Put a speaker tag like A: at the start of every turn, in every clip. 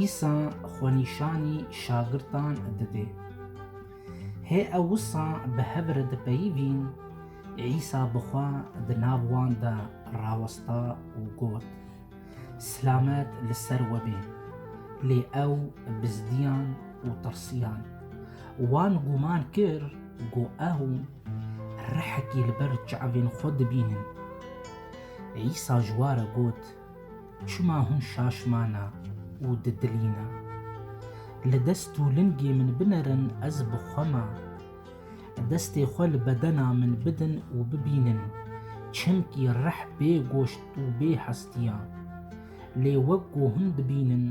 A: Îsa xwenîşanî şagirdan didê. Hê ew wisa bi hev re dipeyivîn, Îsa bi xwe di nav wan de rawesta û got, Silamet li ser we bê! Lê ew bizdiyan û tirsiyan. Wan gûman kir ku ew rehekî li ber çavên xwe dibînin. Îsa ji we re got, Çima hûn şaşmana û didilîna? Li dest û lingê min binerin ez bi xwe me. Destê xwe li bedena min bidin û bibînin, çimkî rih bê goşt û bê hestiya. Lê wek ku hûn dibînin,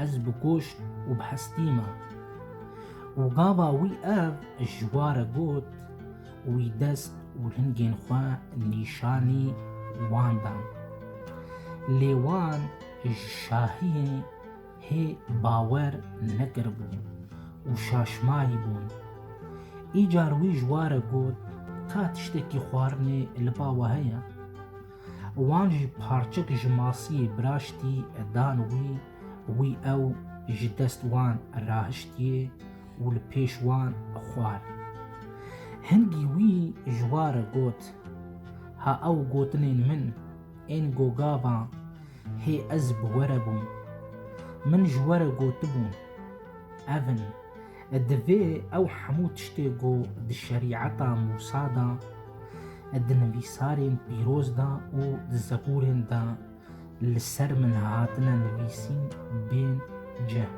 A: Ez bi goşt û bi hestî me. Û gava wî ev ji wa re got û wî dest û lingên xwe nîşanî wan dan. Lê wan ji şahiyê hê bawer nekiribû û şaşmayî bûn. Îcar wî ji wa re got, Ka tiştekî xwarinê li ba we heye? Wan ji parçik ji masiyê biraştî dan wî, wî ew ji dest wan rahiştiye û li pêş wan xwar. Hingî wî ji wa re got, Ha ew gotinên min ên gogavan hê ez bi we re bûm. Min ji we re gotibûn, Ev in Divê ew hemû tiştê ku di Şerîeta Mûsa de, di nivîsarên pîroz de û di Zeburên de li ser min hatine nivîsîn bên cih.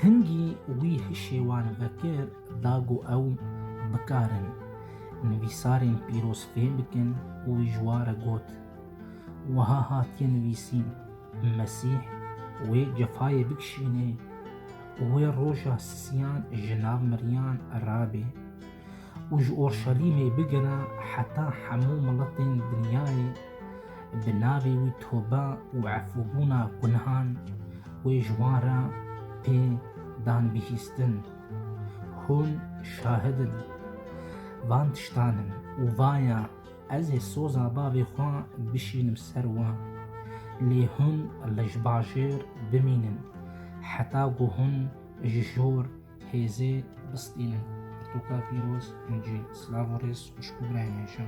A: Hingî wî hişê wan vekir da ku ew bikarin nivîsarên pîroz fêm bikin û wî ji wa re got, Wiha hatiye nivîsîn, Mesîh wê cefayê bikişînê û wê roja sisiyan ji nav miriyan rabê û ji Orşalîmê bigera heta hemû miletên dinyayê bi navê wî tobe û efûbûna gunhan wê ji wan re pê dan bihîstin. Hûn şahid in van tiştan in û vaya Ez ê soza bavê xwe bişînim ser wan, lê hûn li ji bajêr bimînin heta ku hûn ji jor hêzê bistînin. Pirtûka pîroz, incî, silav û rêz xwişk û birayên hêja.